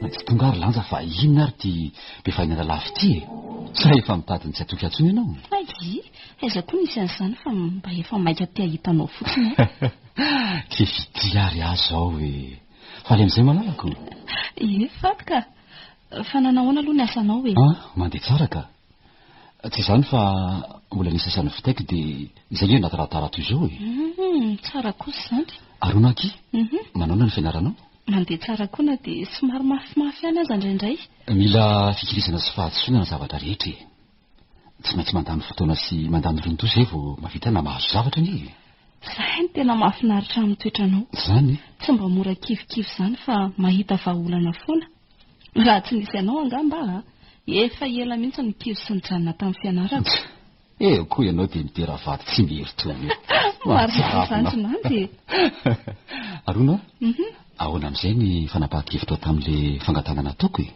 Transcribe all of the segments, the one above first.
Na tsy tonga ary lanja fa inona ary ty be fahiny analafo ty e? Sa efa mitady ny tsy atoky atsony ianao? Ay, aiza koa nisy an'izany fa mba efa maika te hahita anao fotsiny aho. Ke fitia ary aho zao e! Faly amin'izay malalako? Ie, faly ka! Fa nanahona aloha ny asanao e? Ah, mandeha tsara ka! Tsy izany fa mbola ny sasany vitaiko dia izay nge anaty radara toy izao e. Hum, tsara kosa izany. Ary hono aky, Mhm. manaona ny fianaranao? Mandeha tsara koa na dia somary mafimafy ihany aza indraindray. Mila fikirizana sy fahadisoana ny zavatra rehetra e. Tsy maintsy mandany fotoana sy mandany rontoa izay vao mahavita na mahazo zavatra ange e. Izay no tena mahafinaritra amin'ny toetranao. Izany e. Tsy mba mora kivikivy izany fa mahita vahaolana foana. Raha tsy nisy anao angamba aho efa ela mihitsy nikiry sy nijanona tamin'ny fianarako. Tsia e, koa ianao dia midera vady tsy mihery toy ny hoe mahatsiravina aho. Arona a, ahoana amin'izay ny fanapahan-kevitrao tamin'ilay fangatahana nataoko e?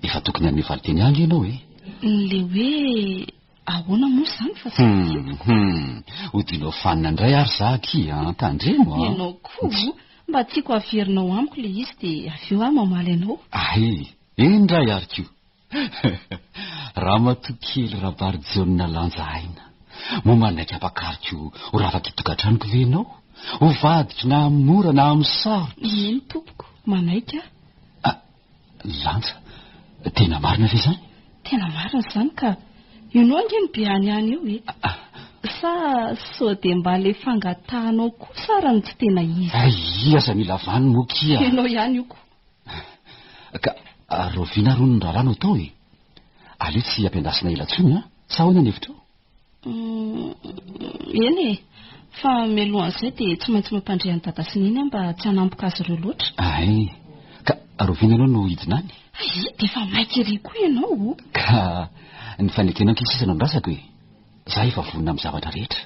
Efa tokony hanome valinteny ahy ange ianao e! Ilay hoe. Ahoana moa izany fa tsy hitako. Hum, odianao fanina indray ary za aky an, tandremo an. Ianao koa, mba tiako haverinao amiko ilay izy dia avy eo aho mamaly anao. Ahe, eny indray ary koa. Ramatoa kely Rabarijaona lanja aina, moa manaiky hampakariko ho rafaka itokantranoko ve ianao? Ho vadiko na amin'ny mora na amin'ny sarotra? Eny tompoko, manaiky aho. Ah, Lanja, tena marina ve izany? Tena marina izany ka! Io noa ange no be any any eo e! Sa sao dia mba ilay fangatahanao kosa ary no tsy tena izy? Aia aza mila vano moa kia! Ianao ihany io ko! Ka rahoviana ary hono ny raharaha no atao e? Aleo tsy ampiandrasina ela intsony an! Sa ahoana ny hevitrao? Hum, eny e! Fa mialohan'izay dia tsy maintsy mampandre an'i Dada sy Neny aho mba tsy hanampoka azy ireo loatra. Ay, ka rahoviana ianao no hidina any? Ay, dia efa maika ery koa ianao o! Ka ny fanekenao ankizy sisa no andrasako e! Izaho efa vonona amin'ny zavatra rehetra.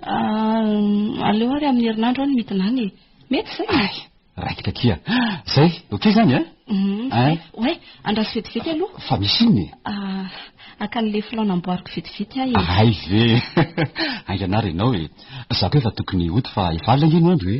Ah, aleo ary amin'ny herinandro aho no midina any e! Mety izay e! Ay! Raikitra aty an. Zay, ok zany an? Hein? Ouais, andraso vetivety aloha. Fa misy inona e? Ah, haka an'ilay filao namboariko vetivety aho e. Hay ve! Haingana ary ianao e. Za koa efa tokony hody fa efa alina ange ny andro e.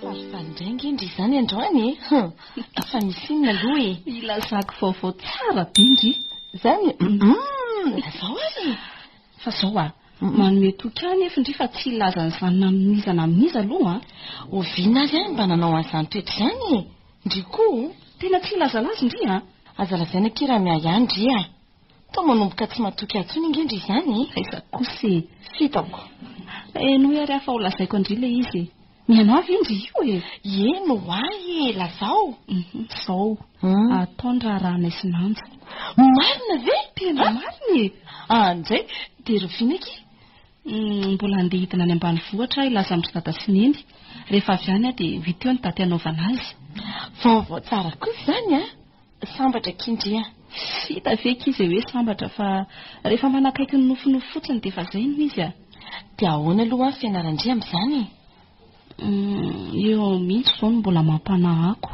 Falifaly indray ange ndry izany androany e! Hum! Efa misy inona aloha e! Ilazako vaovao tsara be ndry! Izany? Hum! Lazao ary e! Fa izao a! Manome toky ahy anefa ndry fa tsy hilaza an'izany na amin'iza na amin'iza aloha an! Oviana ary aho no mba nanao an'izany toetra izany e! Ndry koa o! Tena tsy hilazalaza ndry an! Aza lazaina akia raha miahiahy ndry an! Toa manomboka tsy matoky ahy intsony nge ndry izany e! Aiza kosa e! F'hitako. Henoy ary aho fa holazaiko an-dry ilay izy e! Ny anao ve ndry io e! Heno ho ahy e! Lazao! Izao, atao ny raharahanay sy Nanja. Marina ve? Tena marina e! An! Indray dia rahoviana akia? Mbola handeha hidina any ambanivohitra aho hilaza amin-dry dada sy neny. Rehefa avy any aho dia ho hita eo ny daty hanaovana azy. Vaovao tsara kosa izany an! Sambatra kindry a! Tsy hita ve akia izay hoe sambatra fa rehefa manakaiky ny nofinofy fotsiny dia efa izay no izy a! Dia ahoana aloha ho'a Fianarandria amin'izany e? Humm, eo mihitsy izao no mbola mampanahy ako.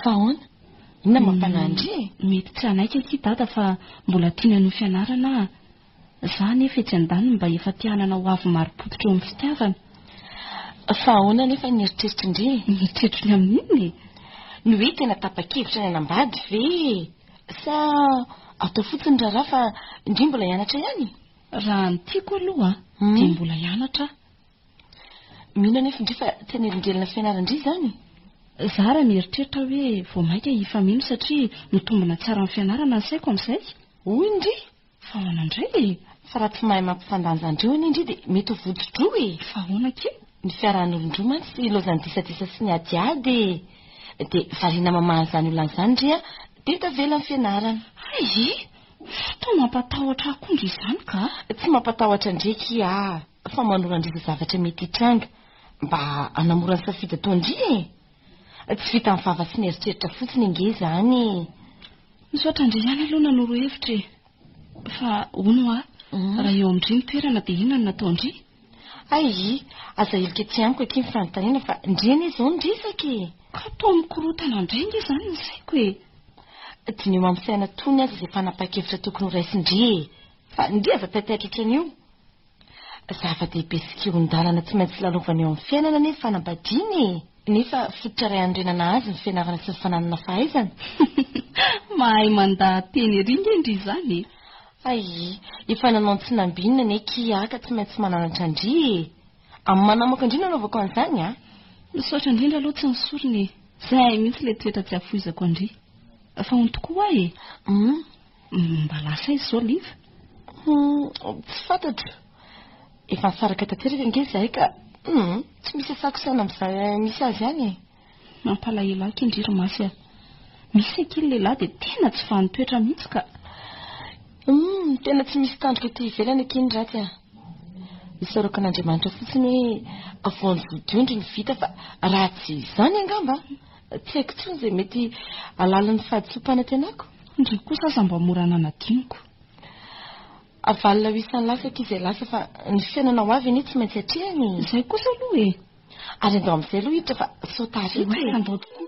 Fa ahoana? Inona mampanahy an-dry e? Mety tsy hanaiky akia Dada fa mbola tiany hanohy fianarana a! Za anefa etsy andaniny mba efa te hanana ho avy marim-pototra eo amin'ny fitiavana. Fa ahoana anefa ny eritreritry ndry e? Ny eritreritro ny amin'ny inona e? Ny hoe tena tapa-kevitra ny hanambady ve e? Sa atao fotsiny raharaha fa ndry mbola hianatra ihany e? Raha ny tiako aloha dia mbola hianatra aho. Mino anefa ndry fa tsy hanelingelina fianaran-dry izany e? Za raha mieritreritra aho hoe vao mainka hifameno satria mitombina tsara amin'ny fianarana ny saiko amin'izay. Hoy ndry. Fa ahoana indray e? Fa raha tsy mahay mampifandanja andreo anie ndry dia mety ho votsodroa e! Fa ahoana akia? Ny fiarahan'olon-droa mantsy ilaozan'ny disadisa sy ny adiady e! Dia variana mamaha an'izany olona izany ndry an! Dia tavela ny fianarana! Hay e! Toa mampatahotra ahy koa ndry izany ka! Tsy mampatahotra ndry akia aho fa manoro an-dry izay zavatra mety hitranga mba hanamora ny safidy ataon-dry e! Tsy vitan'ny vava sy ny eritreritra fotsiny ange izany e. Misaotra ndry ihany aloha nanoro hevitra e. Fa hono hoa, raha eo amin-dry ny toerana dia inona no nataon-dry? Ayy, aza heloka ety amiko akia ny fanontaniana fa ndry anie izao ny resaka e! Ka toa mikorontana indray ange izany ny saiko e! Dineho amin'ny saina tony aza izay fanapahan-kevitra tokony horaisin-dry e! Fa ndry aza taitaitra ohatran'io! Zava-dehibe sy kihon-dalana tsy maintsy lalaovana eo amin'ny fiainana anie ny fanambadiana e! Nefa fototra iray hanorenana azy ny fianarana sy ny fananana fahaizana. Mahay mandaha-teny ery nge ndry izany e! Ayy, efa nanao ny tsy nambinina anie kiaa ka tsy maintsy mananatra ndry e! Amin'ny manamoaka ndry no anaovako an'izany a! Misaotra indrindra aloha tsy ny sorona e! Zay mihitsy ilay toetra tsy afoizako an-dry! Fa ho ny tokoa ho'a e! Humm. Mba lasa aiza izao Liva? Hum, tsy fantatro. Efa nisaraka tanteraka ange izahay ka. Hum, tsy misy asako saina amin'izay misy azy ihany e. Mampalahelo ahy kendry ry Masy a. Misy ankiany lehilahy dia tena tsy vanin-toetra mihitsy ka. Hum, tena tsy misy tandroka ety ivelany ankiany ratsy a. Isaorako an'Andriamanitra fotsiny hoe vao nivodio indry ny vita fa raha tsy izany angamba. Tsy haiko intsony izay mety halalin'ny fahadisoam-panantenako. Ndry kosa aza mba mora nanadinoko. Avalona ho isan'ny lasako izay lasa fa ny fiainana ho avy anie tsy maintsy atrehina e! Izay kosa aloha e! Ary andao amin'izay aloha hiditra fa sao taharitra e! Andao tokoa!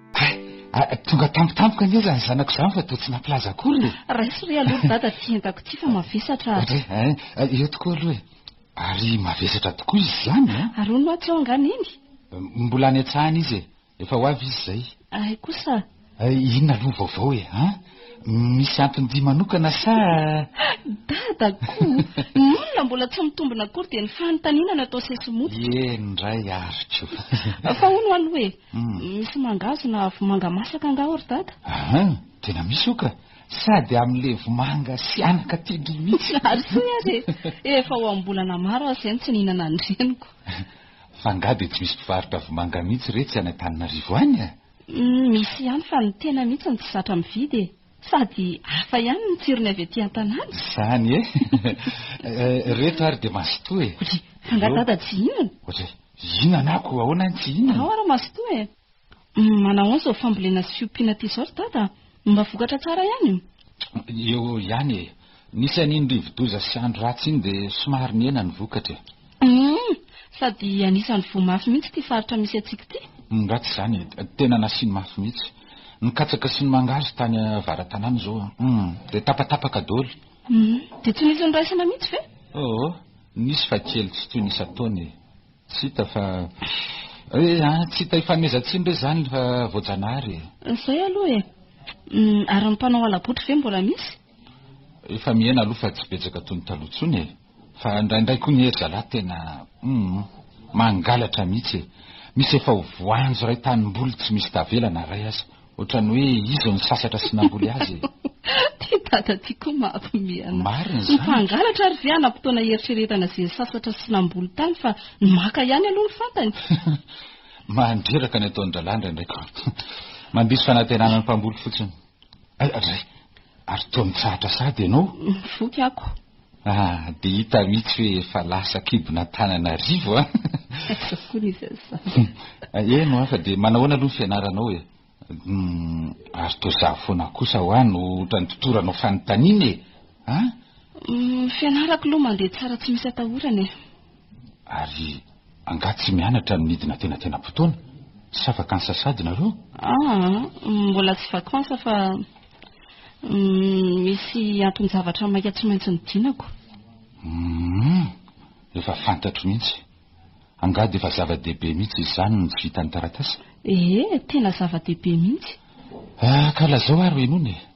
Hay, tonga tampoka tampoka anie izany zanako izany fa dia tsy nampilaza akory e. Raiso re aloha ry dada aty entako ity fa mavesatra. Ohatra hoe, hein, eh, eo tokoa aloha e. Ary mavesatra tokoa izy izany an! Ary hono atsy ao angaha neny? Mbola any an-tsahany izy e. Efa ho avy izy izay. Hay kosa. Eh, inona aloha ny vaovao e, hein? Misy anton-dia manokana sa? Dadako! Ny olona mbola tsy mitombina akory dia ny fanontaniana no atao sesimototra. Eny indray ary koa. Fa hono aloha e, Misy mangahazo na vomanga masaka angaha ao ry dada? Aha, tena misy io ka. Sady amin'ilay vomanga sy anaka tian-dry mihitsy. Ary soa aza e! Efa ho am-bolana maro aho izay no tsy nihinana ny reniko. Fa angaha dia tsy misy mpivarotra vomanga mihitsy re tsy any Antananarivo any a? Misy ihany fa ny tena mihitsy no tsy zatra mividy e! Sady hafa ihany ny tsirony avy aty an-tanàna. Izany e! Ireto ary dia mazotoa e! Oje, fa angaha dada tsy hihinana? Oje, hihinana aho koa ahoana any tsy hihinana? Ao ary mazotoa e! Manao ahoana izao fambolena sy fiompiana aty izao ry dada? Mba vokatra tsara ihany? Eo eo ihany e! Nisy an'iny rivodoza sy andro ratsy iny dia somary nihena ny vokatra e. Humm! Sady anisan'ny voa mafy mihitsy ity faritra misy antsika ity. Humm ratsy izany e! Tena nasiany mafy mihitsy. Ny katsaka sy ny mangahazo tany avaratanàna izao humm dia tapatapaka daholo. Humm! Dia tsy nisy niraisana mihitsy ve? Oo! Nisy fa kely tsy toy ny isan-taona e! Tsy hita fa eh an! Tsy hita ifanomezan-tsiny re izany fa voajanahary e! Izay aloha e! Humm! Ary ny mpanao hala-botry ve mbola misy? Efa mihena aloha fa tsy betsaka toy ny taloha intsony e! Fa indraindray koa ny hery zalahy tena hum mangalatra mihitsy e! Misy efa ho voanjo iray tanimboly tsy misy tavela na iray aza! Ohatran'ny hoe izy no sasatra sy namboly azy e! Ty dada ty koa mahampiomehy an'ahy! Marina izany! Ny mpangalatra ary ve hanam-potoana hieritreretana izay sasatra sy namboly tany fa ny maka ihany aloha no fantany? Mandreraka ny ataon-drahalahy indraindray koa! Mandiso fanantenana ny mpamboly fotsiny! Ray, ary toa mitsahatra sahady ianao? Mivoky ako. Ah, dia hita mihitsy hoe efa lasa kibon'Antananarivo an! Aiza koa ny izany? Eny hoa, fa dia manahoana aloha ny fianaranao e? Ary toa izaho foana kosa hoa no ohatran'ny totoranao fanontaniana e! An? Ny fianarako aloha mandeha tsara tsy misy atahorana e! Ary angaha tsy mianatra ny midina tena tena potoana? Sa vakansa sady nareo? Aa, ah, mbola tsy vakansa fa mm, misy anton-javatra maika tsy maintsy nidinako. Mm, efa fantatro mihitsy. Angaha dia efa zava-dehibe mihitsy izany no tsy vitan'ny taratasy? Ee, tena zava-dehibe mihitsy. Ah, ka lazao ary ho henoina e.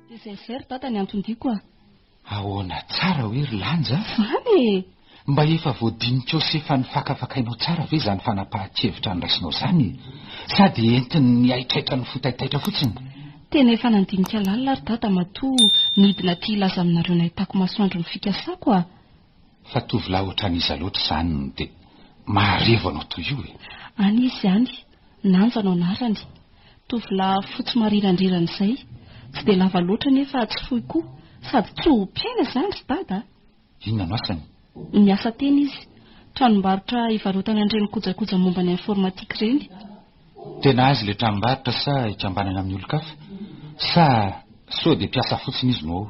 Tgzr dada ny anton-diako a! Ahoana tsara hoe ry Lanja a? Izany e! Mba efa voadinikao sy efa nifakafakainao tsara ve izany fanapahan-kevitra noraisinao izany e? Sa dia entin'ny nihaitraitra ny fo taitaitra fotsiny? Tena efa nandinika lalina ary dada matoa nidina aty hilaza aminareo nahitako masoandro ny fikasako a! Fa tovolahy ohatran'iza loatra izany no dia maharevo anao toy io e? Any izy any, Nanja no anarany. Tovolahy fotsy marirandrirana izay. Tsy dia lava loatra nefa tsy fohy koa. Sady tsy ho mpiaina izany ry Dada a! Inona no asany? Miasa teny izy. Tranombarotra ivarotana an'ireny kojakoja momba ny informatique ireny. Tena azy ilay tranombarotra sa ikambanana amin'ny olon-kafa? Sa sao dia mpiasa fotsiny izy no ao?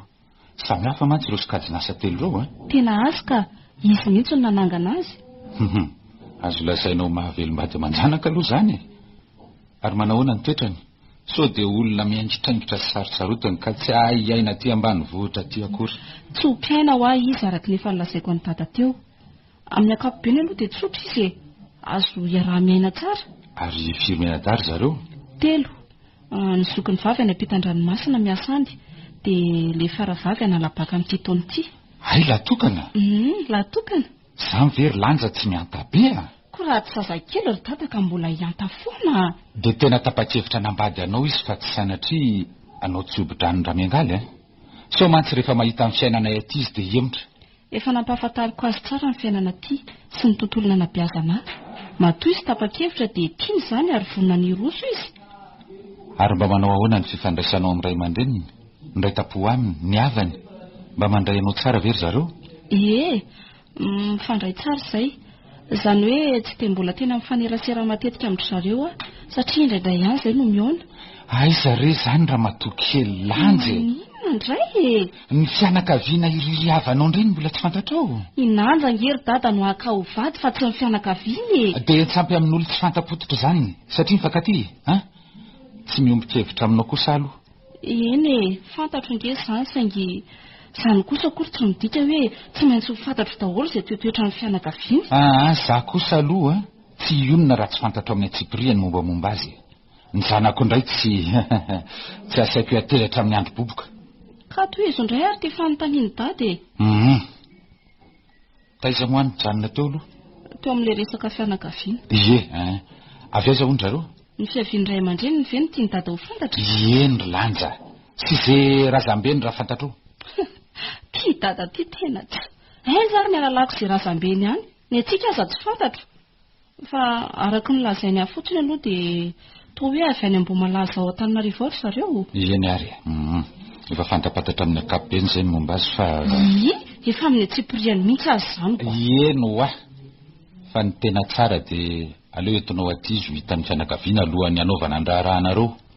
Samy hafa mantsy ireo sokajin'asa telo ireo an! Tena azy ka! Izy mihitsy no nanangana azy. Huhum! Azo lazaina ho mahavelom-bady aman-janaka aloha izany e! Ary manahoana ny toetrany? Sao dia olona miaingitraingitra sy sarotsarotiny ka tsy hahay hiaina aty ambanivohitra aty akory? Tsy ho mpiaina ho'ahy izy araka ny efa nolazaiko an'i Dada teo. Amin'ny ankapobeny aloha dia tsotra izy e! Azo iaraha-miaina tsara. Ary firy mianadahy ry zareo? Telo. Ny zokiny vavy any ampitan-dranomasina miasa any, dia ilay faravavy hanala-baka amin'ity taona ity. Hay lahy tokana! Humm, lahy tokana! Izany ve ry Lanja tsy mihanta be a! Koa raha tsy zazakely ry Dada ka mbola hihanta foana a! Dia tena tapa-kevitra hanambady anao izy fa tsy sanatria anao tsy hobo-drano-dRamiangaly a! Sao mantsy rehefa mahita ny fiainanay aty izy dia hemotra. Efa nampahafantariko azy tsara ny fiainana aty sy ny tontolo nanabeazana ahy. Matoa izy tapa-kevitra dia tiany izany ary vonona ny hiroso izy. Ary mba manao ahoana ny fifandraisanao amin'ny ray aman-dreniny, ny iray tam-po aminy, ny havany? Mba mandray anao tsara ve ry zareo? Ie, mifandray tsara izay. Izany hoe tsy dia mbola tena mifanerasera matetika amin-dry zareo aho satria indraindray ihany izay no mihaona. Aiza re izany ramatoa kely Lanjy e? Maninona indray e? Ny fianakaviana irery havanao indray no mbola tsy fantatrao? I Nanja ange ry dada no haka ho vady fa tsy ny fianakaviany e! Dia tsy ampy amin'olona tsy fanta-pototra izany satria mifankatia e! An! Tsy miombon-kevitra aminao kosa aho aloha. Eny e, fantatro ange izany, saingy izany kosa akory tsy midika hoe tsy maintsy ho fantatro daholo izay toetoetran'ny fianakaviany. Ah, izaho kosa aloha tsy hionona raha tsy fantatro amin'ny antsipiriany ny mombamomba azy e. Ny zanako indray tsy tsy asaiko hiantehitra hatramin'ny androm-boboka. Ka tohizo indray ary ity fanontanian'i Dada e. Humm. Taiza moa nijanona teo aloha? Teo amin'ilay resaka fianakaviana. Ie eh. Avy aiza hono zareo? Ny fiavian'ny ray aman-dreniny ve no tian'i Dada ho fantatra? Ieny ry Lanja. Sy ze razambeny raha fantatrao. Tia Dada ity tena tsy. Aiza ary ny halalako izay razambeny any? Ny antsika aza tsy fantatro. Fa araka ny lazainy ahy fotsiny aloha dia toa hoe avy any Ambohimalaza ao Antananarivo ao ry zareo. Eny ary e. Efa fantapatatra amin'ny ankapobeny izay ny momba azy fa. Iiy, efa amin'ny antsipiriany mihitsy aza izany ko. Eny ho'a. Fa ny tena tsara dia aleo entinao aty izy ho hitan'ny fianakaviana alohan'ny hanaovana ny raharahanareo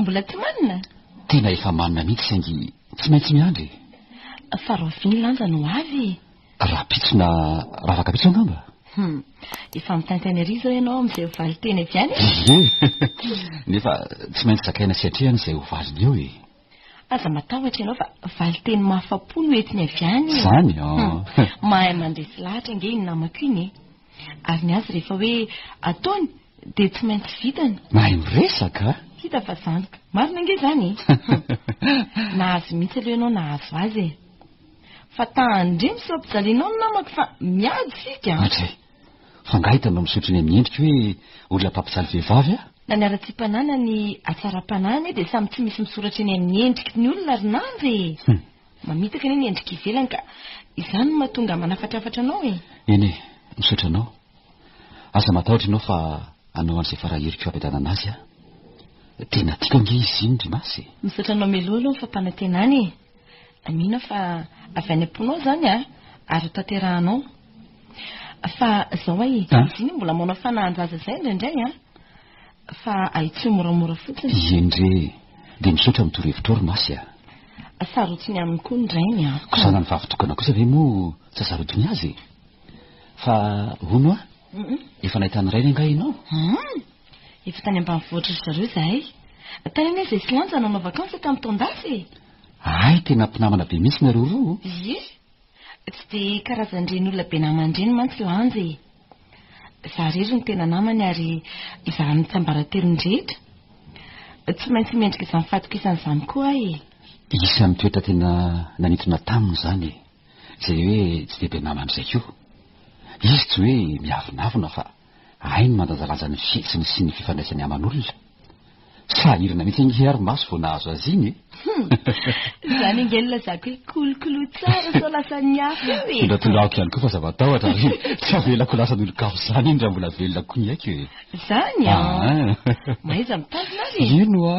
Mbola tsy manina? Tena efa manina mihitsy saingy tsy maintsy miandry e! Fa raovy ny lanja no ho avy e! Rahampitso na ravakapitso angamba? Hum, efa mitaintaina ery izao ianao amin'izay ho valin-teny avy any e! Ie! Nefa tsy maintsy zakaina sy atrehana izay ho valiny eo e! Aza matahotra ianao fa valinteny mahafa-po no entiny avy any e. Izany? Hum. Mahay mandresy lahatra ange iny namako iny e. Ary ny azy rehefa hoe ataony dia tsy maintsy vitany. Mahay miresaka a! Hita fa zandriko. Marina ange izany e. Hum. Nahazo mihitsy aloha ianao nahazo azy e. Fa tahan-dry misaom-pijalianao ny namako fa miady isika a! Hatrizay. Fa nga hita mba misotro ny amin'ny endriko hoe olona mpampijaly vehivavy aho? Na ny haratsiam-panahy na ny hatsaram-panahy anie dia samy tsy misy misoratra eny amin'ny endriky ny olona ry namby e! Mamitaka anie ny endrika ivelany ka izany no mahatonga manafatrafatra anao e! Eny e, misaotra anao. Aza matahotra ianao fa hanao an'izay fara heriko hampiadanana azy aho. Tena tiako ange izy iny ry Masy e! Misaotra anao Melo aloha ny fampanantenana e! Mino aho fa avy any am-ponao izany ary hotanterahanao. Fa zao ay e, Ah. ziny mbola manao fanahan-jaza zay indraindray an! Fa ahitsio moramora fotsiny. Ieny re e. Dia misaotra amin'ny torohevitrao ry Masy a. Sarotiny aminy koa ny rainy an! Koa zanany vavy tokana kosa ve moa tsy hasarotiny azy e? Fa hono a, efa nahita ny rainy angaha ianao? Hum! Efa tany ambanivohitra ry zareo zahay. Tany anie zay silanja nanao vakansy tamin'ny taon-dasa e! Ay tena mpinamana be mihitsy nareo roa o! Ie! Tsy dia karazan'ireny olona be namana ireny mantsy Lanja e! Izaho irery no tena namany ary izaho amin'ny tsiambaratelony rehetra. Tsy maintsy mendrika izany fatokisana izany koa aho e! Isan'ny toetra tena nanintona taminy izany e! Izay hoe tsy dia be namana izay koa. Izy tsy hoe miavonavona fa. Hay ny mandanjalanja ny fihetsiny sy ny fifandraisany aman'olona. Sahirana mihitsy ange ary maso vao nahazo azy iny e! Hum! Izany ange no lazako hoe kolokolo tsara sao lasan'ny hafa eo e! Tondratondrahako ihany koa fa zava-tahotra ary tsy avelako lasan'olon-kafa izany iny raha mbola velona koa ny aiko e! Izany an! Mahaiza mitazona ary e! Eny oa!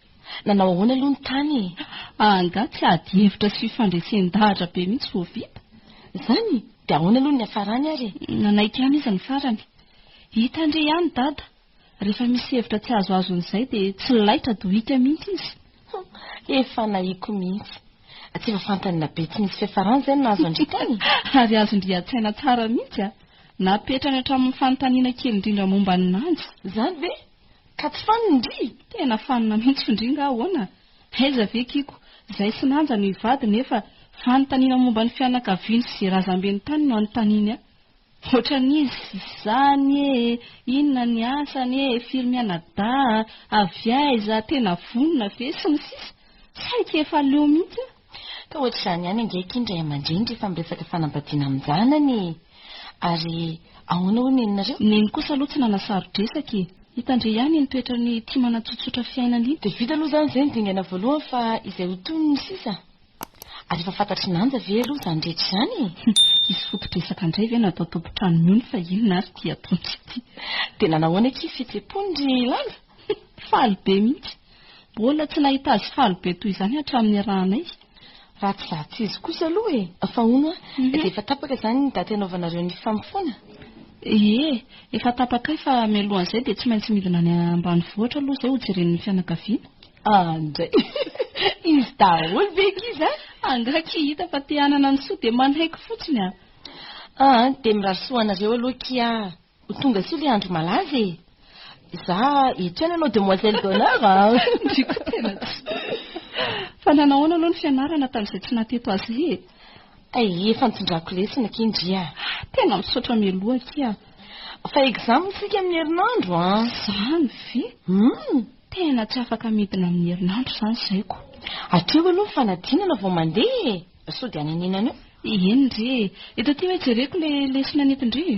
Nanao ahoana aloha ny tany e? Angaha tsy ady hevitra sy fandresen-dahatra be mihitsy vao vita? Izany? Dia ahoana aloha ny niafarany ary e? Nanaiky ihany izy ny farany. Hita ndry ihany Dada, rehefa misy hevitra tsy azo azon'izay dia tsy laitra dohika mihitsy izy. Humm, efa nahiko mihitsy. Tsy efa fantany na be tsy misy fiafarany izay no nahazo an-dry tany? Ary azon-dry an-tsaina tsara mihitsy a! Napetrany hatramin'ny fanontaniana kely indrindra momba an'i Nanja. Izany ve? Ka tsy fanina ndry! Tena fanina mihitsy f'ndry nga ahoana? Aiza ve kiko, zay sy nanja no hivady nefa fanontaniana momba ny fianakaviany sy razambeny tany no anontaniany a! Ohatran'izy izany e! Inona ny asany e! Firy mianadahy? Avy aiza? Tena vonona ve? sy ny sisa Saika efa leo mihitsy a! Ka ohatr'izany ihany ange akia ny ray aman-dreny rehefa miresaka fanambadiana amin-janany e! Ary ahoana hoy neninareo? Neny kosa aloha tsy nanasaro-dresaka e! Hitandre ihany iny toetrany tia manatsotsotra fiainana iny. Dia vita aloha izany izay ny dingana voalohany fa izay ho tohiny no sisa? Ary efa fantatr'i Nanja ve aloha izany rehetra izany e? Hisy foto-dresaka indray ve natao tompon-trano miony fa inona ary ity atoandro ity? Dia nanahoana akia fihetsem-pony ry Lanja? Hih, faly be mihitsy. Mbola tsy nahita azy faly be toy izany hatramin'ny niarahanay. Ratsy zatsy izy kosa aloha e! Fa hono an, dia efa tapaka izany ny daty hanaovanareo ny famofoana? Ie, efa tapaka kay fa mialohan'izay dia tsy maintsy midina any ambanivohitra aloha izay hojeren'ny fianakaviana. Ah, indray! Izy daholo ve ankizy an? Angaha ki hita fa te hanana ny soa dia manaiky fotsiny an! Ah, dia mirary soa ho anareo aloha ki ah! Ho tonga soa ilay andro malaza e! Za eto ihany ianao demoiselle d'honneur a! Ndry koa tena tsy. Fa nanao ahoana aloha ny fianarana tamin'izay tsy nahateto azy e? Ay, efa nitondrako lesona akia ndry a! Ah, tena misaotra mialoha akia a! Fa exam isika amin'ny herinandro a! Izany ve? Hum! Tena tsy afaka midina amin'ny herinandro izany izay ko! Hatreo aloha ny fanadinana vao mandeha e! Sao dia hanenenana eo? Eny ndry e! Eto aty hoe jereko ilay lesona nentin-dry e!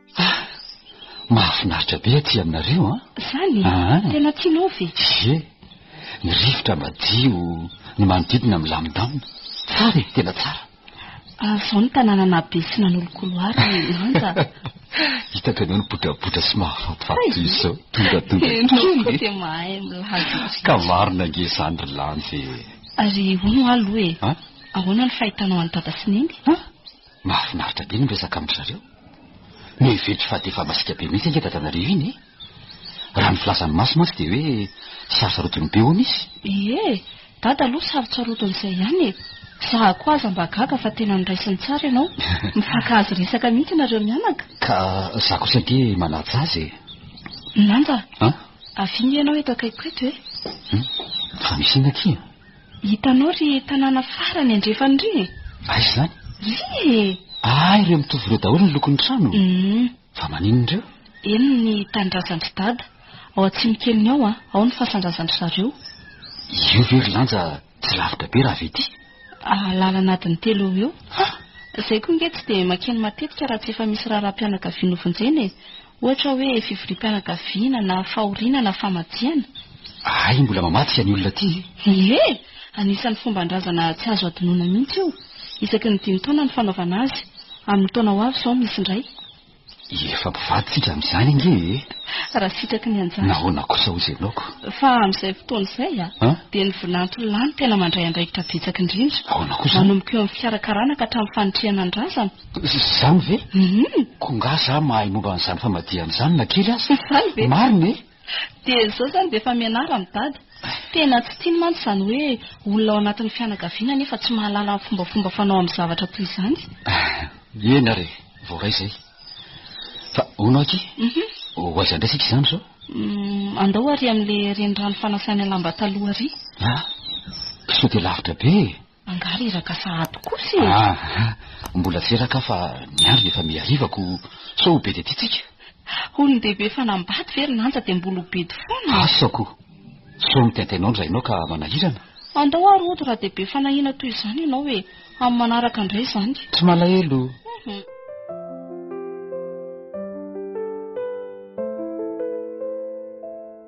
Ah, mahafinaritra be aty aminareo an! Ah. Zany? Ah, ah. Tena tianao ve? Ye, ny rivotra madio, ny manodidina milamindamina. Tsara e, tena tsara. Ah, zao ny tanàna nabe sy nanolokoloara ny lanja. Hitako ianao nibotrabotra sy mahafatifaty toy izao, tongatonga kely. Ianao dia mahay milaza. Ka marina ange izany ry lanja e. Ary hono aloha e, ahoana ny fahitanao an'i dada sy neny? Ah? Mahafinaritra be ny miresaka amin-dry zareo. Miheveritra fa dia efa masiaka be mihitsy ange dadanareo iny e! Raha ny filazan'i Masy mantsy dia hoe sarotsarotiny be hono izy. Ie, dada aloha sarotsarotiny-izay ihany e! Za koa aza mba gaga fa tena noraisiny tsara ianao. Mifankahazo resaka mihitsy ianareo mianaka. Ka za kosa ange manaja azy e! Nanja, An? avia nge ianao eto akaikiko eto e! Hum, fa misy inona akia? Hitanao ry tanàna farany andrefany ry e! Aiza izany? Ry e! Ah, ireo mitovy ireo daholo ny lokon'ny trano? Hum. Fa maninona ireo? Eny, ny tanindrazan-dry Dada. Ao Atsimokeliny ao an, ao ny fasan-drazan-dry zareo. Io ve ry Lanja tsy lavitra be raha avy ety? Ah, lalana adiny telo eo ho eo. Hah! Izay koa ange tsy dia makeny matetika raha tsy efa misy raharaham-pianakaviana ho vonjena e! Ohatra hoe fivoriam-pianakaviana na fahoriana na famadihana? Hay mbola mamadika ny olona aty e! Ie! Anisan'ny fomban-drazana tsy azo adinoina mihitsy io. Isaky ny dimy taona no fanaovana azy. Amin'ny taona ho avy izao misy indray. Efa mpivaditsika amin'izany ange e! Raha sitraky ny anjara. Nahoana kosa hozy ianao ko? Fa amin'izay fotoana izay a! dia ny vinanto lany tena mandray andraikitra betsaka indrindra. Ahoana kosa? Manomboka eo amin'ny fikarakarana ka hatramin'ny fanitrihana ny razana. Izany ve? Koa angaha za mahay momba an'izany famadihana izany na kely aza? Izany ve? Marina e! Dia izao izany dia efa mianara ny dada. Tena tsy tiany mantsy izany hoe olona ao anatin'ny fianakaviana nefa tsy mahalala ny fombafomba fanao amin'ny zavatra toy izany. Eny ary e, voaray izay. Fa hono aky, ho aiza indray isika izany izao? Andao ary amin'ilay renirano fanasana lamba taloha ary. Sao dia lavitra be e! Angaha reraka sahady kosa e! Ah! Mbola tsy reraka aho fa ny andro dia efa mihariva ko sao ho bedy aty tsika. Olon-dehibe efa nambady ve ry Lanja dia mbola ho bedy foana? Asa ko! Sao mitaintainao indray ianao ka manahirana? Andao ary hody raha dia be fanahiana toy izany ianao e! Amin'ny manaraka indray izany. Tsy malahelo. Uhum.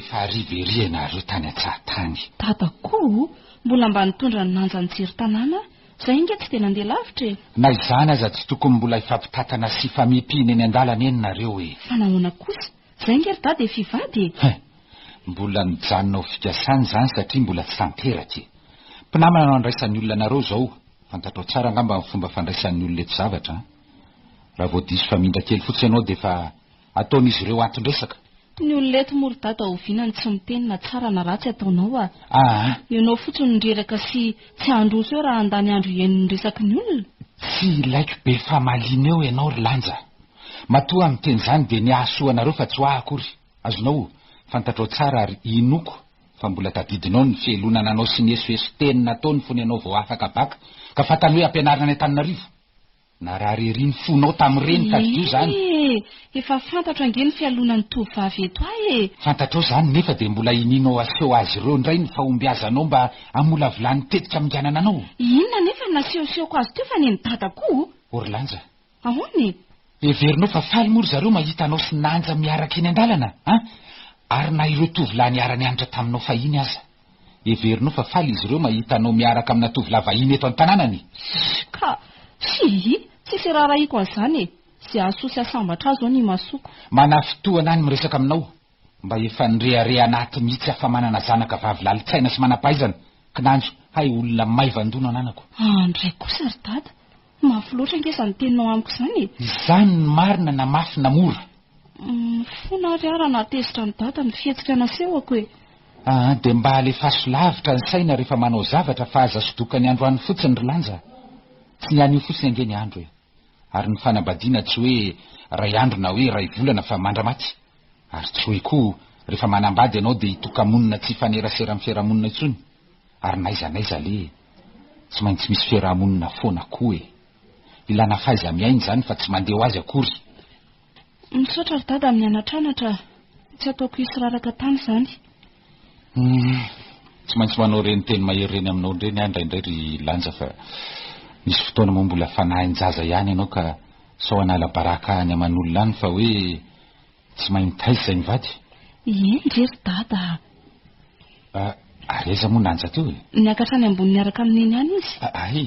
Efa hariva ery ianareo tany an-tsahatany. Dada koa mbola mba nitondra ny nanja nijery tanàna aho. Izay ange tsy dia nandeha lavitra e. Na izany aza tsy tokony mbola hifampitantana sy hifamihipihina eny an-dalana eny nareo e. Fa nahoana kosa? Izay ange ry dada efa hivady e. Hein, mbola nijanona ho fikasana izany satria mbola tsy tanteraka e. Mpinamana no andraisan'ny olona anareo izao Fantatrao tsara angamba ny fomba fandraisan'ny olona eto zavatra an! Raha vao diso famindra kely fotsiny ianao dia efa ataon'izy ireo anton-dresaka. Ny olona eto moa ry dada oviana no tsy miteny na tsara na ratsy ataonao a! Aa! Ianao fotsiny no reraka sy tsy handroso eo raha handany andro hihaino ny resaky ny olona? Tsy ilaiko be famaliana eo ianao ry Lanja! Matoa aho miteny izany dia ny hahasoa anareo fa tsy ho ahy akory! Azonao? Fantatrao tsara ary inoako Fa mbola tadidinao ny fihelonana anao sy ny esoeso teny nataony fony ianao vao afaka bac ka fantany hoe ampianarina any Antananarivo? Narary ery ny fonao tamin'ireny tadidio izany. Ee! Efa fantatro ange ny fialonan'ny tovovavy eto ahy e! Fantatrao izany nefa dia mbola inianao aseho azy ireo indray ny fahombiazanao mba hamolavolany tetika haminganana anao? Inona anefa no nasehosehoko azy teo fa nen'i Dada koa o! Orlanja, Ahoana e? Heverinao fa faly moa ry zareo mahita anao sy Nanja miaraka eny an-dalana an? Ary na ireo tovolahy niara-nianatra taminao fahiny aza. Heverinao fa faly izy ireo mahita anao miaraka amina tovolahy vahiny eto an-tanànany. Ka! Hihi! Tsisy raharahiako an'izany e! Izay hahasoa sy hahasambatra ahy izao ny imasoko. Manafitohana ny miresaka aminao. Mba efa nirehareha anaty mihitsy afa manana zanaka vavy lalin-tsaina sy manam-pahaizana, kinanjo, hay olona maivan-doha no ananako. An indray kosa ry dada, mafy loatra ange izany teninao amiko izany e! Izany ny marina na mafy na mora. Humm fona ary aho raha nahatezitra an'i dada ny fihetsika nasehoko e! Aa dia mba alefaso lavitra ny saina rehefa manao zavatra fa aza sodoka ny andro any fotsiny ry lanja a! Tsy ny anio fotsiny ange ny andro e! Ary ny fanambadiana tsy hoe iray andro na hoe iray volana fa mandra-maty. Ary tsoy koa refa manambady ianao dia hitoka-monina tsy hifanerasera amin'ny fiarahamonina intsony, ary n'aiza n'aiza aleha e! Tsy maintsy misy fiarahamonina foana koa e! Ilana fahaiza-miaina izany fa tsy mandeha ho azy akory! Misaotra ry dada amin'ny anatranatra, tsy ataoko hisy raraka tany izany. Humm. Tsy maintsy manao ireny teny mahery ireny aminao ireny aho indraindray ry Lanja fa misy fotoana moa mbola fanahin-jaza ihany ianao ka sao hanala baraka any aman'olona any fa hoe tsy mahay mitaiza izay mivady. Eny re ry Dada a! Ah, ary aiza moa Nanja teo e? Niakatra any ambony niaraka amin'i Neny any izy. Ah, hay!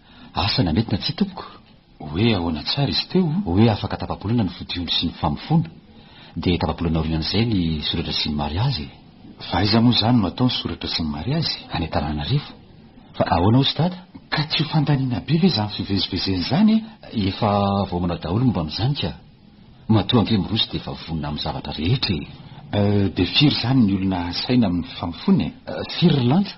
Asa na mety na tsia tompoko? Hoe ahoana tsara izy teo? Hoe afaka tapa-bolana ny fodiondry sy ny famofoana, dia tapa-bolana aorianan'izay ny soratra sy ny mariazy e! Fa aiza moa izany no atao ny soratra sy ny mariazy? Any Antananarivo. Fa ahoana hozy dada? Ka tsy ho fandaniana be ve izany fivezivezena izany e? Efa vao manao daholo momba amin'izany ka! Matoa ange miroso dia efa vonona amin'ny zavatra rehetra e! Euh, dia firy izany ny olona asaina amin'ny famofoana e? Firy ry lanto?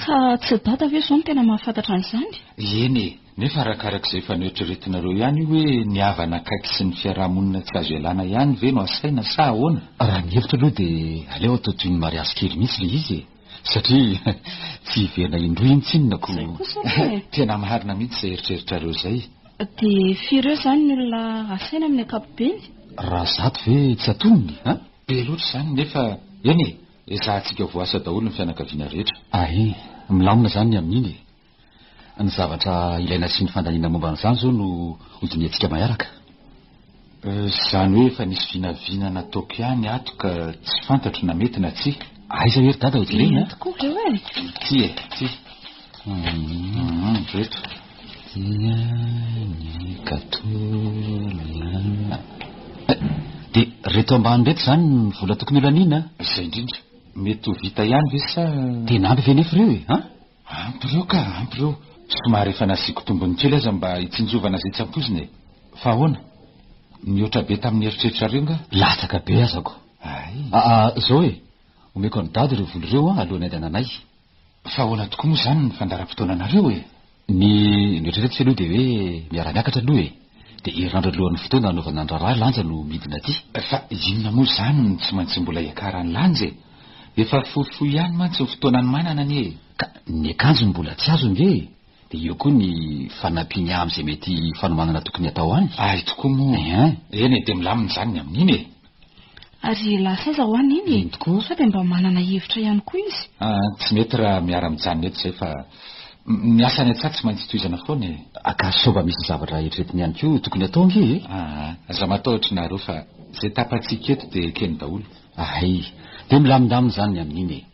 Fa tsy i Dada ve izao no tena mahafantatra an'izany? Eny e! Nefa arakarak'izay efa noeritreretinareo ihany io hoe ny havana akaiky sy ny fiarahamonina tsy azo ialana ihany ve no asaina sa ahoana? Raha ny hevitro aloha dia aleo atao toy ny mariazy kely mihitsy ilay izy e! Satria tsy hiverina indroa intsy inona ko! Izay kosa aloha e! Tena marina mihitsy izay eritreritrareo izay. Dia firy eo izany ny olona asaina amin'ny ankapobeny? Raha zato ve tsy atonony an? Be loatra izany nefa, eny e! Ezahantsika voasa daholo ny fianakaviana rehetra. Ahe, milamina izany ny amin'iny e! Ny zavatra ilaina sy ny fandaniana momba an'izany izao no hodinihantsika maharaka. Izany hoe efa nisy vinavina nataoko ihany ato ka tsy fantatro na mety na tsia. Aiza ery dada hojerena a! Ity tokoa ireo e! Ity e, ity. Reto dia ny gateau Dia reto ambany reto izany ny vola tokony holaniana a? Izay indrindra. Mety ho vita ihany ve sa... Tena ampy ve anefa ireo e? An? Ampy ireo ka, ampy ireo. Somary efa nasiako tombony kely aza mba hitsinjovana izay tsy ampoizina e. Fa ahoana? Nihoatra be tamin'ny eritreritrareo nga? Latsaka be aza ko. Ay. Aa, izao e. Omeko an'i Dada ireo vola ireo an, alohan'ny handehananay. Fa ahoana tokoa moa izany ny fandaharam-potoananareo e? Ny noeritreretiko aloha dia hoe miara-miakatra aloha e. Dia hirandra alohan'ny fotoana hanaovana ny raharaha lanja no midina aty. Fa inona moa izany no tsy maintsy mbola hiakarany lanja e? Efa fohifohy ihany mantsy ny fotoanan'ny manana anie e! Ka ny akanjony mbola tsy azo ange e! Dia eo koa ny fanampiany amin'izay mety fanomanana tokony hatao any. Hay tokoa moa. Ehe. Eny e, dia milamina izany ny amin'iny e. Ary elas aza ho an iny e. Eny tokoa. Sao dia mba manana hevitra ihany koa izy. Ah, tsy mety raha miara mijanona eto izay fa ny asa any an-tsaha tsy maintsy tohizana foana e. Aka sao mba misy zavatra eritreretiny ihany koa tokony hatao ange e. Aa, aza matahotra ianareo fa izay tapatsika eto dia ekeny daholo. Ahay. Dia milamindamina izany ny amin'iny e.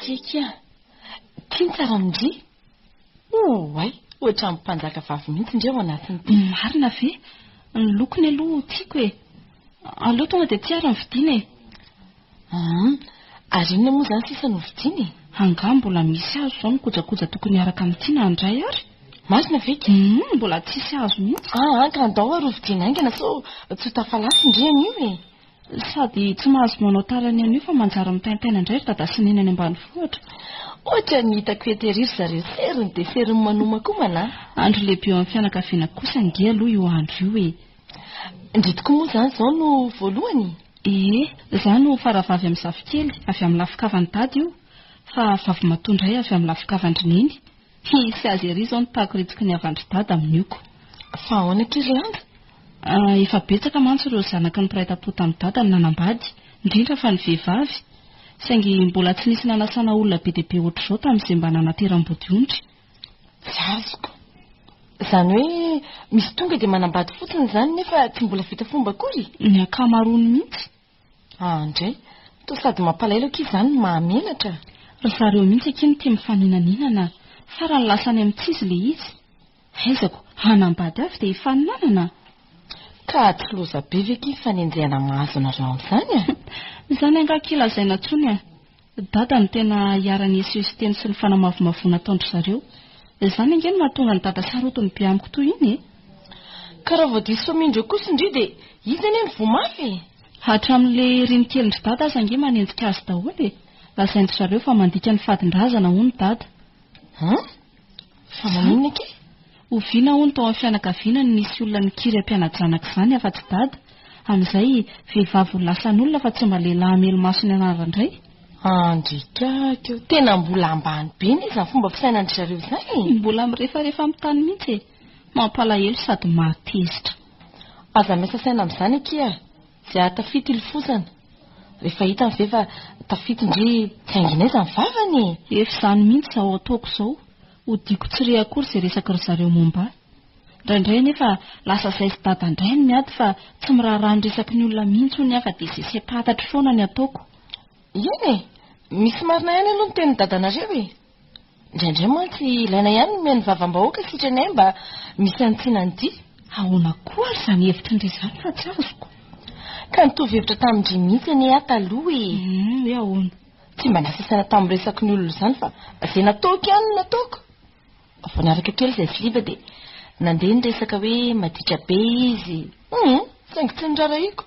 Kiakia! Ty ny karamondry? Oay! Ohatran'ny mpanjaka vavy mihitsy ndry ao anatiny ty. Marina ve? Ny lokony aloha tiako e! Aleo tonga dia aty ary ny vidiana e! Humm! Ary inona moa izany sisa no vidiana e? Angaha mbola misy azo izao ny kojakoja tokony hiaraka amin'ity na handray ary? Marina ve ity? Humm! Mbola tsisy azo mihitsy. Aa ka andao ary hovidiana haingana sao tsy ho tafalatsy ndry anio e! Sady tsy mahazo manao tara ny anio fa manjary mitaintaina indray ry Dada sy Neny any ambanivohitra. Ohatra ny hitako eto ery ry zareo seriny dia seriny manomankomana a! Andro lehibe eo amin'ny fianakaviana kosa ange aloha io andro io e! Ndry tokoa moa izany izao no voalohany? Ee, izaho no faravavy amin'ny zafikely, avy amin'ny lafin-kavan'i Dada io, fa vavimatoa indray avy amin'ny lafin-kavan-dry Neny. Tsy hisy azy ery izao ny pakoritsoky ny havandry dada amin'ny oko. Fa ahoana akia ry lanja? Ah, efa betsaka mantsy ireo zanaky ny mpiray tam-po tamin'i dada no nanambady, indrindra fa ny vehivavy. Saingy mbola tsy nisy nanasana olona be dia be ohatr'izao tamin'izay mba nanateram-bodiondry. Tsy azoko. Izany hoe misy tonga dia manambady fotsiny izany nefa tsy mbola vita fomba akory? Ny ankamaroany mihitsy. Ah ndray, toa sady mampalahelo akia izany no mahamenatra. Ry zareo mihitsy akia no tia mifaninaninana farany lasa any amin'ny tsy izy ilay izy. Haizako, hanambady avy dia hifaninanana? Ka tsy loza be ve akia ny fanenjehana mahazo anareo amin'izany a? Izany angaha akia lazaina intsony a! Dada no tena iharan'i Yesu sy teny sy ny fanamavomavoana ataon-dry zareo. Izany ange no mahatonga an'i Dada sarotiny ny be amiko toy iny e! Ka raha vao diso soamin-dreo kosa ndry dia izy anie no voa mafy e! Hatramin'le reny kelin-dry Dada aza ange manenjika azy daholo e! Lazain-dry zareo fa mandika ny fadin-drazana hono Dada. Hum? Fa maninona ike? Oviana hono tao amin'ny fianakaviana no nisy olona nikiry am-piana-janaka izany afa-tsy dada? Amin'izay, vehivavy ho lasan'olona fa tsy mba lehilahy hamely maso ny anarany indray? Andriaka aky ô! Tena mbola ambany be anie izany fomba fisainan'dry zareo izany e! Mbola mirefarefa amin'ny tany mihitsy e! Mampalahelo sady mahatezitra. Aza miasa saina amin'izany akia e! Dia tafita ilofosana. Rehefa hitany ve fa tafita ndry tsy haingina aiza ny vavany e! Efa izany mihitsy izao ataoko izao, hodiako tsy re akory izay resaky ry zareo momba ahy. Indraindray anefa lasa zaizy dada indray ny miady fa tsy miraharaha ny resaky ny olona mihitsy hono aho fa dia izay sempatatra foana ny ataoko. Eny e! Misy marina ihany aloha ny tenin'i dadanareo e! Indraindray mantsy ilaina ihany ny omeny vavam-bahoaka sitranay mba misantsina an'ity. Ahoana koa ary izany hevitry ndry izany fa tsy azoko. Ka nitovy hevitra tamin-dry mihitsy anie aho taloha e! Humm hoe ahoana? Tsy mba nasasaina tamin'ny resaky ny olona izany fa izay nataoko ihany no nataoko. Vao niaraka kely izay filiba dia nandeha ny resaka hoe maditra be izy. Humm saingy tsy norarahiako.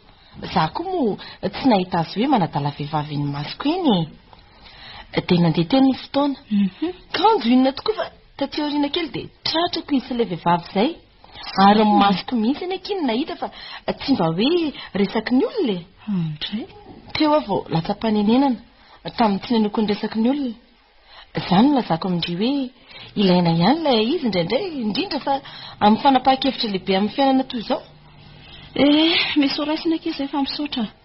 Za koa moa tsy nahita azy hoe manadala vehivavy eny imasoko eny e! Dia nandeha teo ny fotoana. Mhm. Kanjo inona tokoa fa taty aoriana kely dia tratrako izy sy ilay vehivavy izay. Ary ny masoko mihitsy anie akia no nahita fa tsy mba hoe resaky ny olona e. Andray. Teo aho vao latsa-panenenana tamin'ny tsy nenoko ny resaky ny olona. Izany no lazako amin-dry hoe ilaina ihany ilay izy indraindray indrindra fa amin'ny fanapahan-kevitra lehibe amin'ny fiainana toy izao. Eh, misy ho raisina akia izay fa misaotra.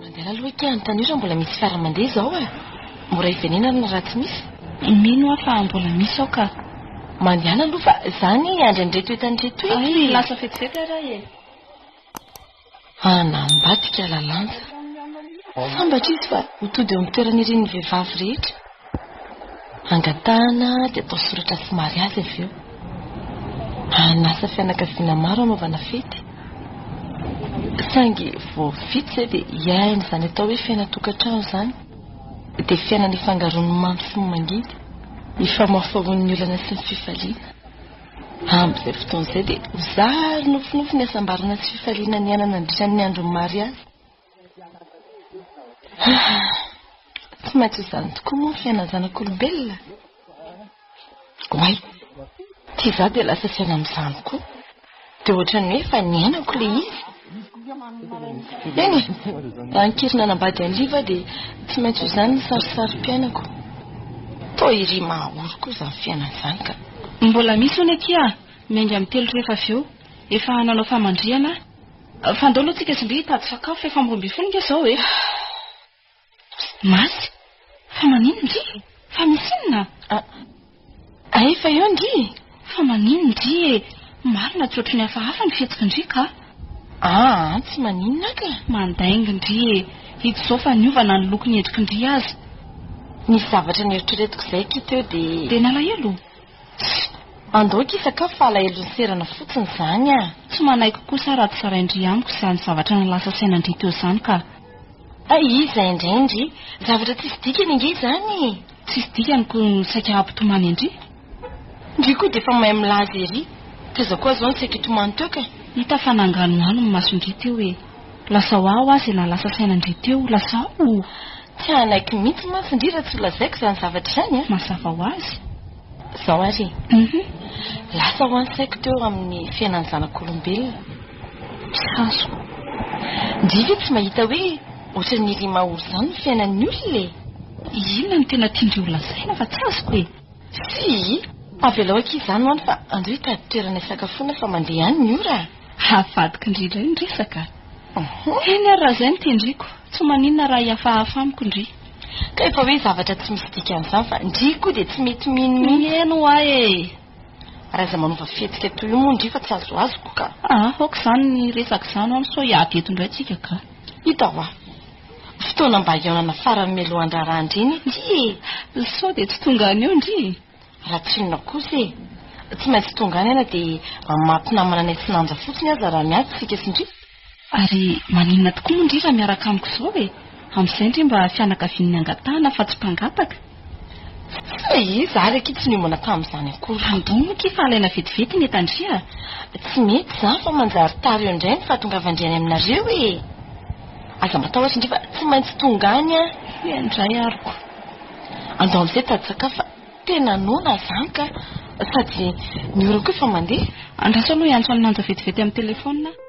Mandeha aloha ika hanontania raha mbola misy fiara mandeha izao e! Mora hivenenana raha tsy misy. Mino aho fa mbola misy ao ka. Mandehana aloha fa izaho anie hiandry an'ireto entana ireto etsy. Hay lasa vetivety ary aho e! Hanambadika lalanja. Sambatra izy fa ho tody eo amin'ny toeran'irin'ny vehivavy rehetra. Angatahana dia atao soratra sy mariazy avy eo. Anasa fianakaviana maro hanaovana fety. Saingy vao vita izay dia hiaina izany atao hoe fiainan-tokantrano izany. Dia fiaina nifangaroan'ny mamy sy ny mangidy, ifamaofaoan'ny olana sy ny fifaliana. Amin'izay fotoana izay dia ho zary nofinofy ny hasambarana sy fifaliana niaina nandritra ny andron'ny mariazy. Tsy maintsy izany tokoa moa ny fiainan'ny zanak'olombelona. Oay, tsy izaho dia lasa saina amin'izany koa. Dia ohatran'ny hoe efa niainako ilay izy. Eny e, raha nikiry nanambady an'i Liva aho dia tsy maintsy ho izany ny sarisarim-piainako. Toa iry mahaory koa izany fiainana izany ka. Mbola misy hono akia miainga amin'ny telo rehefa avy eo efa nanao famandrihana aho. Fandao aloha tsika sy ndry hitady sakafo efa amroambin'ny folo nge zao e. Masy, fa manino ndry? Fa misy inona? Ay efa eo ndry e. Fa manino ndry e. Marina tsy ohatry ny hafahafa ny fihetsiky ndry ka. Aa tsy maninona ka. Mandainga ndry e. Hita izao fa niova na ny loko ny endriky ndry aza. Nisy zavatra neritreretiko izay ki teo dia. Dia nalahelo? Tsy andoiko hisakafo fa alahelo ny serana fotsiny izany ah. Tsy manaiky kosa raha tsarain-dry amiko izany zavatra nilasa sainan-dry teo izany ka. Hay iza indray ndry? Zavatra tsisy dikany ange izany e! Tsisy dikany koa no saika hampitomany an-dry? Ndry koa dia efa mahay milaza ery, taiza koa aho izao no saika hitomany teo ka. Hita fa nanganohano ny mason-dry teo e! Lasa ho aho aza ilay lasa saina ndry teo lasa aho. Tsy hanaiky mihitsy mantsy ndry raha tsy ho lazaiko izany zavatra izany a! Mazava ho azy. Izao ary e. Lasa ho any saiko teo amin'ny fiainan'ny zanak'olombelona. Mpihazo. Ndry ve tsy mahita hoe ohatran'ny rima ory izany ny fiainan'ny olona e! Inona no tena tian-dry ho lazaina fa tsy azoko e! Tsia! Avelao akia izany ho any fa andao hitady toerana hisakafoana fa mandeha ihany ny ora a! Havadiko indrindra iny resaka a! Eny ary raha izay no tendriko, tsy maninona raha hihafahafa amiko ndry. Ka efa hoe zavatra tsy misy dikany izany fa ndry koa dia tsy mety mino mihitsy. Mihaino ho ahy e! Raha izay manova fihetsika toy io moa ndry fa tsy azoazoko ka! Aa! aoka izany ny resaka izany ho any sao hiady eto indray tsika ka! Hita hoa! Fotoana mba hihaonana farany mialoha handrara an-dry iny ity e! Sao dia tsy tonga any eo ndry? Raha tsinona kosa e! Tsy maintsy tonga any aho na dia mamato namana any Atsinanja fotsiny aza raha miady isika sy ndry. Ary maninona tokoa moa ndry raha miaraka amiko izao e! Amin'izay ndry mba fianakavian'ny angatahana fa tsy mpangataka. Fa iza ary akia tsy niomana tamin'izany akory. Andoniny akia fa alaina vetivety ny etan-driha. Tsy mety izany fa manjary tara eo indray ny fahatongavan-dry any aminareo e! Aza matahotra indray fa tsy maintsy tonga any an! Tsia indray aroko. Andao amin'izay dadantsakafo fa tena noana izany ka! Sady ny orako efa mandeha. Andraso aloha hiantso an'i Manja vetivety amin'ny telefaonina aho.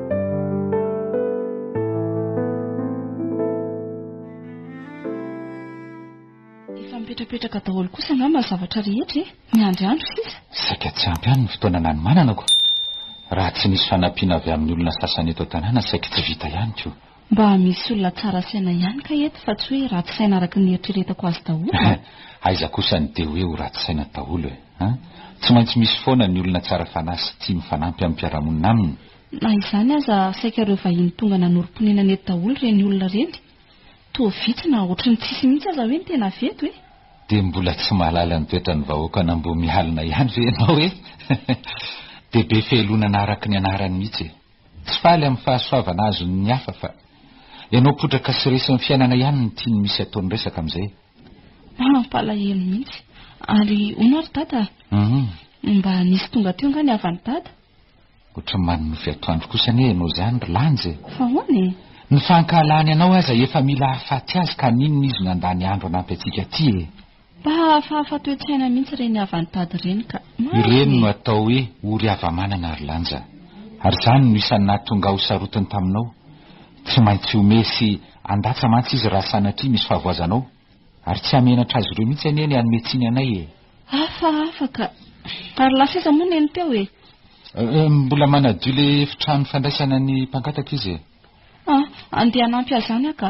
Efa mipetrapetraka daholo kosa angamba ny zavatra rehetra e! Miandry andro sisa. Saika tsy ampy ihany ny fotoana nanomanana ko! Raha tsy nisy fanampiana avy amin'ny olona sasany eto an-tanàna saika tsy vita ihany ko! Mba misy olona tsara saina ihany kay eto fa tsy hoe ratsy saina araka ny eritreretako azy daholo a! Aiza kosa ny dia hoe ho ratsy saina daholo e! a! Tsy maintsy misy foana ny olona tsara fanahy sy tia mifanampy amin'ny mpiara-monina aminy. Na izany aza, saika ireo vahiny tonga nanorim-ponenana eto daholo ireny olona ireny. Toa vitsy na ohatry ny tsisy mihitsy aza hoe ny tena avy eto e! Dia mbola tsy mahalala ny toetran'ny vahoaka an'Ambohimialona ihany ve ianao e! Dia be fehelonana araka ny anarany mihitsy e! Tsy faly amin'ny fahasoavana azon'ny hafa fa ianao potraka sy resin'ny fiainana ihany no tiany misy ataony resaka amin'izay. Mampalahelo mihitsy. Ary hono ary Dada a! Humm. Mba nisy tonga teo nga ny havan'i Dada? Ohatran'ny manonofy atoandro kosa anie ianao izany ry Lanjy e! Fa ahoana e? Ny fankahalany anao aza efa mila hahafaty azy ka n'inona izy nandany andro hanampy antsika aty e! Mpahafahafa toe-tsaina mihitsy ireny havantady ireny ka. Ireny no atao hoe ory hava-manana ry lanjan. Ary izany no isan'ny nahatonga aho ho sarotiny taminao. Tsy maintsy homehy sy handatsa mantsy izy raha sanatria misy fahavoazanao. Ary tsy hamenatra azy ireo mihitsy anie ny hanome tsiny anay e! Hafahafa ka. Ary lasa aiza moa neny teo e? Mbola manadio ilay efitrano fandraisana ny mpangataka izy e. An, andeha hanampy azy any aho ka.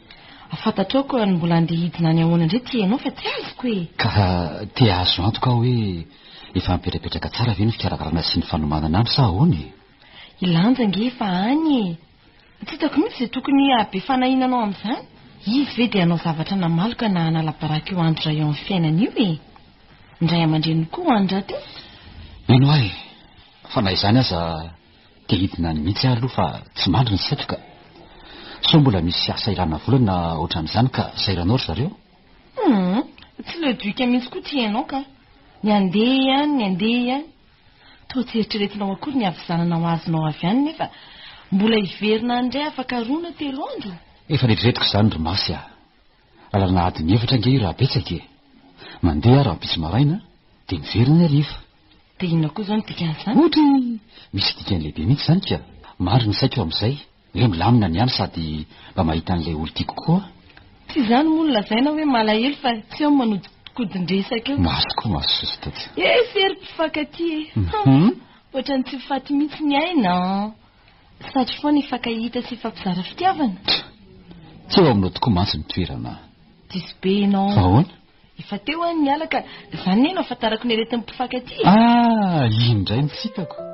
Fantatrao koa ny mbola andeha hidina any ahoana indray ty enao fa tsy azoko e! Ka te ahazo antoka aho hoe efa mipetrapetraka tsara ve ny fikarakarana sy ny fanomanana any sa ahoana e? I Lanja ange efa any e! Tsy hitako mihitsy izay tokony hahabe fanahiana anao amin'izany. Izy ve dia hanao zavatra namaly ka na hanala baraka io andry ra eo amin'ny fiainany io e! Ny ray aman-dreniny koa ho any rahateo? Mino ahy fa na izany aza Dia hidina any mihitsy aho aloha fa tsy mandry ny saiko ka. Sao mbola misy asa ilana vola na ohatran'izany ka sairanao ry zareo? Humm, tsy le duc mihitsy koa ity ianao ka. Ny andeha ihany, ny andeha ihany. Toa tsy eritreretinao akory ny havizananao azonao avy any nefa mbola hiverina any indray afaka roa na telo andro? Efa eritreretiko izany ry Masy a. Lalana adiny efatra ange io raha betsaka e. Mandeha aho rahampitso maraina dia miverina ny hariva. Dia inona koa izao no dikan'izany? Ohatry ny misy dikany lehibe mihitsy izany ka! Mandry ny saiko amin'izay, hoe milamina ny any sady mba mahita an'ilay olon-tiako koa aho. Tsy izany moa no lazaina hoe malahelo fa tsy eo ny manodikodin-dresaka eo. Maso koa maso sosota tsy. Eh sy ery mpifankatia e! Ohatran'ny tsy ho faty mihitsy ny aina an! Satry foana hifankahita sy hifampizara fitiavana. Tsy eo aminao tokoa mantsy ny toerana. Diso be ianao. Fa ahoana? Efa teo an niala ka zany ne no afantarako ny aretin'ny mpifankatia e! Ah! Iny ndray no tsy hitako.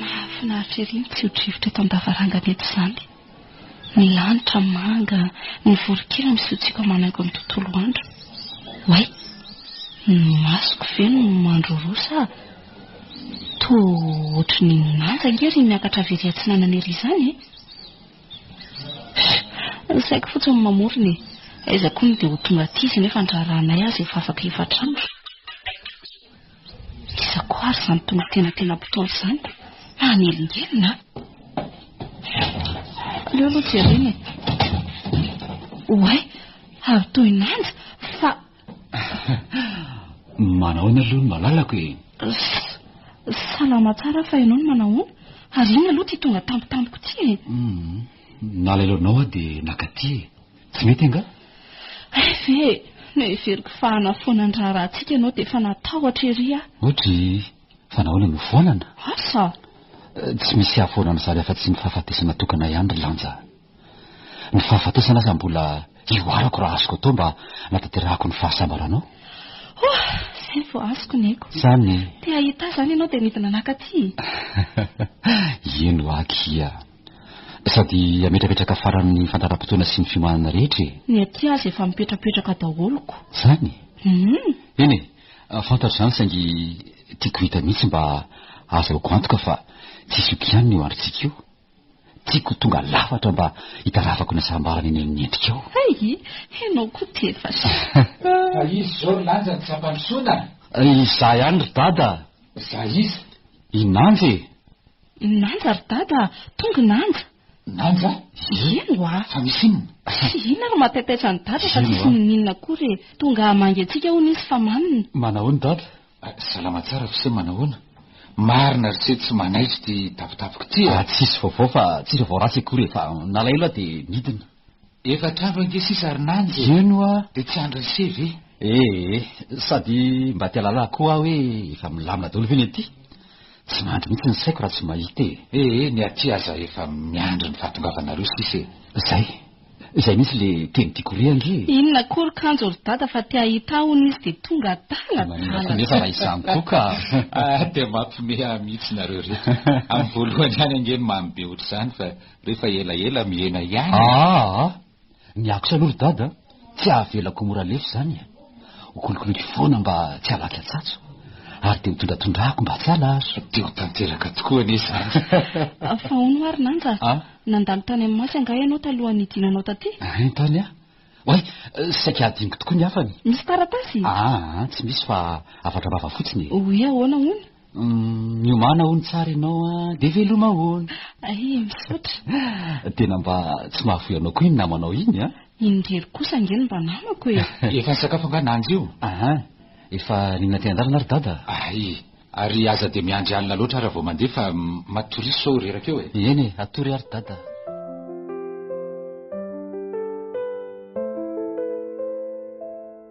Mahafinaritra ery ny tsio-drivotra eto an-davarangana eto izany. Ny lanitra manga, ny voronkely misiotsiaka manaingo ny tontolo andro. Oay! Ny masoko ve no mandroroa sa? Toa ohatry ny manja ange ry miakatra avy ery atsinanana ery izany e! Fy! Ny saiko fotsiny no mamorona e! Aiza koa no dia ho tonga aty izy nefa ny raharahanay aza efa afaka efatra andro. Iza koa ary izany tononkena tena mpitondra izany fa hanelingelina an! Aleo aloha jerena e! Oay, avy toy ny lanja fa. Manahoana aloha ny malalako e? Salama tsara fa ianao no manahoana? Ary inona aloha ity tonga tampotampoka ity e? Nalailao anao aho dia naka aty e! Tsy mety angaha? Hay ve e! Noheveriko fa hanafoana ny raharahantsika ianao dia efa natahotra ery aho. Ohatry fa nahoana no foanana? Asa! Tsy misy hahafoana an'izany afa-tsy ny fahafatesana tokana ihany ry Lanja a! Ny fahafatesana aza mbola hihoarako raha azoko atao mba hanatanterahako ny fahasambaranao. Ohh! Izay vao azoko ny aiko. Zany e! Te hahita ahy izany ianao dia nidina naka aty e! Ieny hoa akia! Sady ametrapetraka faran'ny fandaharam-potoana sy ny fiomanana rehetra e! Ny aty aza efa mipetrapetraka daholo ko. Zany e! Hum. Eny e! Fantatro izany saingy tiako hita mihitsy mba ahazahoako antoka fa tsisy oko ihany ny eo androntsika io. Tiako ho tonga lafatra mba hitarafako ny hasambarana eny amin'ny endrikao. Hay! Ianao koa tefas. Fa iza izao ry Lanja no tsy ampandrosoana? Izaho ihany ry Dada. Za iza? I Nanja e! Nanja ry dada a! Tonga Nanja! Nanja a! Ino oa? Fa misy inona? Tsy inona ary mataitaitra an'i dada fa tsisy ninoninona akory e! Tonga hamangy antsika hono izy fa manina. Manahoana dada? Salama tsara f'ise manahoana? Marina ry se tsy manaitra ity tapitapiko ity e! Tsisy vaovao fa tsisy vaovao ratsy akory e! Fa nalahelo aho dia nidina. Efatra avy ange sisa ry Nanja e! Eny hoa! Dia tsy andrin'i se ve? Ee, sady mba te halalà koa aho hoe efa milamina daholo ve ny aty? Tsy mandry mihitsy ny saiko raha tsy mahita e! Ee, ny aty aza efa miandry ny fahatongavanareo sisa e! Izay! Izay mihitsy ilay teny tiako re ange e! Inona akory kanjo ry Dada fa te hahita ahy hono izy dia tonga adala adala! Nefa raha izany koa ka! Dia mampimehy ahy mihitsy nareo reto! Amin'ny voalohany ihany ange no mamy be ohatr'izany fa Rehefa elaela mihena ihany. Aa! Miaksa aloha ry dada a! Tsy avelako ho mora lefy izany e! Hokolokoloiko foana mba tsy halaky atsatso. Ary dia hotondratondrahako mba tsy halazo. Dia ho tanteraka tokoa anie izany. Fa hono ary Nanja a! Nandalo tany amin'ny Masy angaha ianao talohan'ny hidinanao taty? Hein tany a! Oay! Saika hadinoko tokoa ny hafany. Misy taratasy? Aa! Tsy misy fa hafatra vava fotsiny e! Oy ahoana hono? Miomana hono tsara ianao a, dia veloma ahoana? Ay, misaotra. Tena mba tsy mahavoy anao koa iny namanao iny a. Indrery kosa ange ny mba namako e. Efa nisakafo angaha nanja io? Aha, efa nihinana teny an-dalana ry dada. Ay, ary aza dia miandry alina loatra ary vao mandeha fa matoria sao reraka eo e. Eny e, atory ary dada.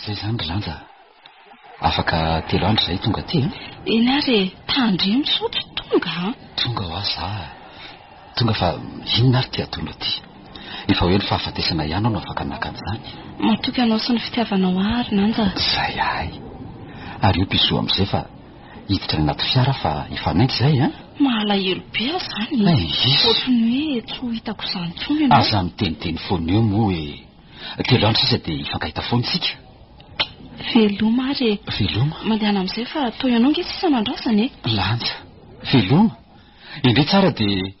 Izay izany ry lanja. Afaka telo andro izay tonga aty an. Eh? Eny ary e, tandremo sao tsy tonga an. Tonga ho aza. Tonga fa inona ary ty ataonao ty? Efa hoe ny fahafatesana ihany aho no afaka naka an'izany. Matoky anao sy ny fitiavanao ahy ry lanja. Izay ahy. Ary io piso amin'izay fa hiditra any anaty fiara fa efa mainka izay an! Mahalahelo be aho izany e! Ohatry ny hoe tsy ho hitako izany intsony ianao. Aza miteniteny foana eo moa hoe telo andro sisa dia hifankahita foana isika. Veloma ary e! Veloma? Mandehana amin'izay fa toa ianao ange sisa no andrasana e! Lanja. Veloma. Endrey tsara dia.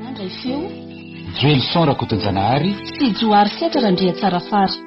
Nandray feo, Joelison Rakotonjanahary. Sy Johary Setra Randriatsarafara.